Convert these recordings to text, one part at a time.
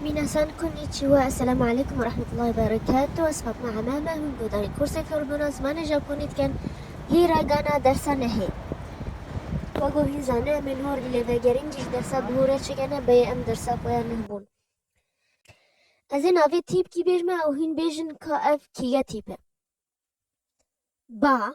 Mîna San Konnichiwa, Esselamu Aleykum ve Rahmetullahi ve Berekatuh, Ez Fatma Emame, hûn guhdarî kursên fêrbûna zimanê Japonî dikin. Hî ragana dersa nehê. Wego hîn zane em ê li hor lêvegerîn cî ji dersa bi hore çikene beyê em dersa xwe ya neh bûn. Ez ê navê tîp kî bêjme ew hîn bêjin ka ev kî ye tîp e. Ba.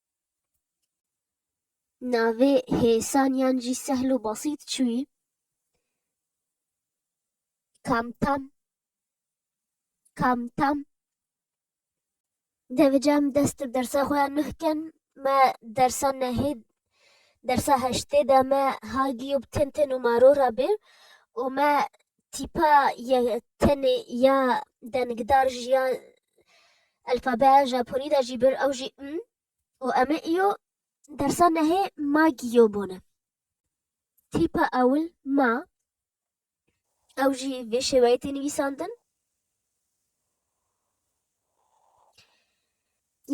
Navê hêsan yan jî sehl û besît çûyî, kamtam, kamtam. Dê vece em dest bi dersa xwe ya nuh kin. Me dersa nehê, dersa heştê de me ha giyo bi tên tên û maro re bê û me tîpa ye tenê ya dengdar jî ya Elfabeya Japonî de jî bir ew jî m û em ê îyo dersa nehê ma gîyo bone. Tîpa ewil ma ew jî vê şêweyê tê nivîsandin.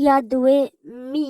Ya diwê mî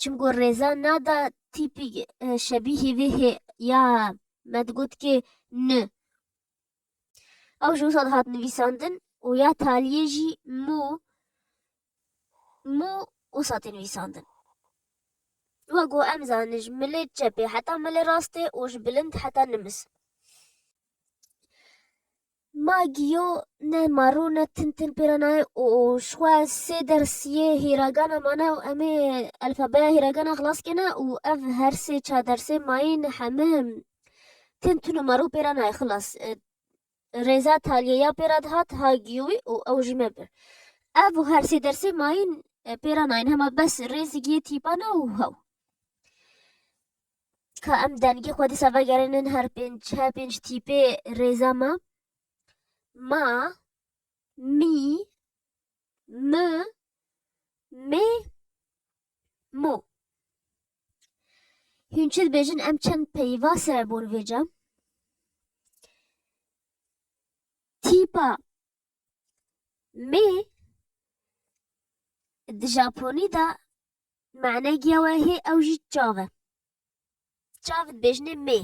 Çimku rêza nada tîpîk şebîhî vê hê ya me digot kê ni. Ew ji wisa dihat nivîsandin û ya taliyê jî mû mû wisa tê nivîsandin. Wa ku em zanin ji milê çepê heta milê rastê û ji bilind heta nimis. Ma giyo ne ma rû ne tin tin pê re nayê û ji xwe sê ders yê hîragana mane û em ê elfabeya hîragana xilas kêne û ev her sê çar dersên ma yên heme tin tin û ma rû pê re nayê xilas. Rêza Talyeya pê re dihat ha giyo wî û ew jî me bir. Ev û her sê dersên ma yên pê re nayên hema bes rêzigiyê tîpa ne û hew. Ka em dengê xwe dîsa vegerînin her pênc her pênc tîpê rêza me. Ma, mî, mi, mê, mû. Hûn çi dibêjin em çend peyva serebûn vêca? Tîpa mê di Japonî de Mane giya we hê ew jî çav e. Çav dibêjinê mê.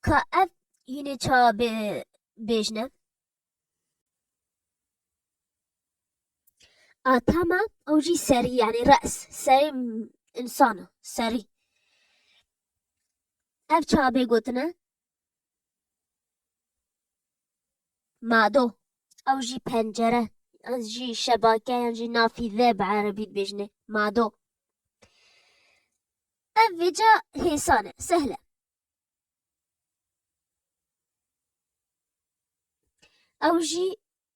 Ka ev yînê ça bê bêjine. Atama ew jî serî yanî res serî insana serî. Ev ça bê gotine Mado. Ew jî pencere yan jî şebake yan jî nafîze bi erebî dibêjine mado. Ev vêca hêsan e, sehl e. Ew jî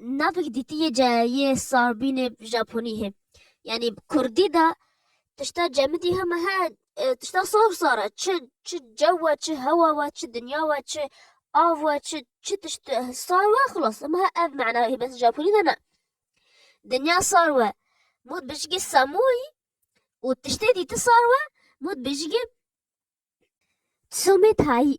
Navik dîtiyê ce yê sarbînê Japonî hê. Yanî Kurdî de tişta cemidî heme he tişta sar sar e. Çi çi cew e, çi hewa we, çi dinya we, çi av we, çi çi tişt sar we xilas. Heme he ev mana hê bes Japonî de ne. Dinya sar we. Mut bijigê samûyî û tiştê dîti sar we, mut bijigê somê tayî.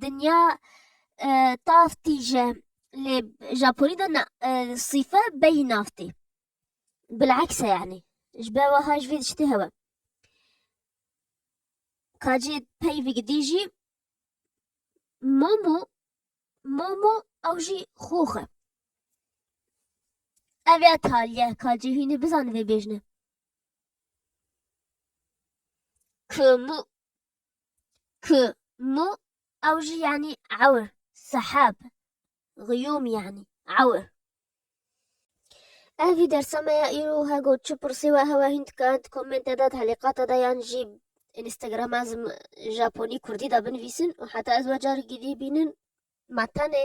dinya tav tîje lê Japonî de na sîfe beyî nav tê. Bilekse yanî ji ber wiha ji vê de çi tê hewe. Ka cê peyvê gidî jî momo momo ew jî xox e. Ev ya taliye ka cê hînî bizane vê bêjine. Kumu Kû, mû, ew jî yanî ewr, sehab, giyûm yanî ewr. Ev vî dersa me ya îro wiha got çi pirsî we hewa hîn dika di komentê de, di helîqata de yan jî Instagrama zim Japonî Kurdî de binivîsin û heta ez wecarekî dîbînin me tenê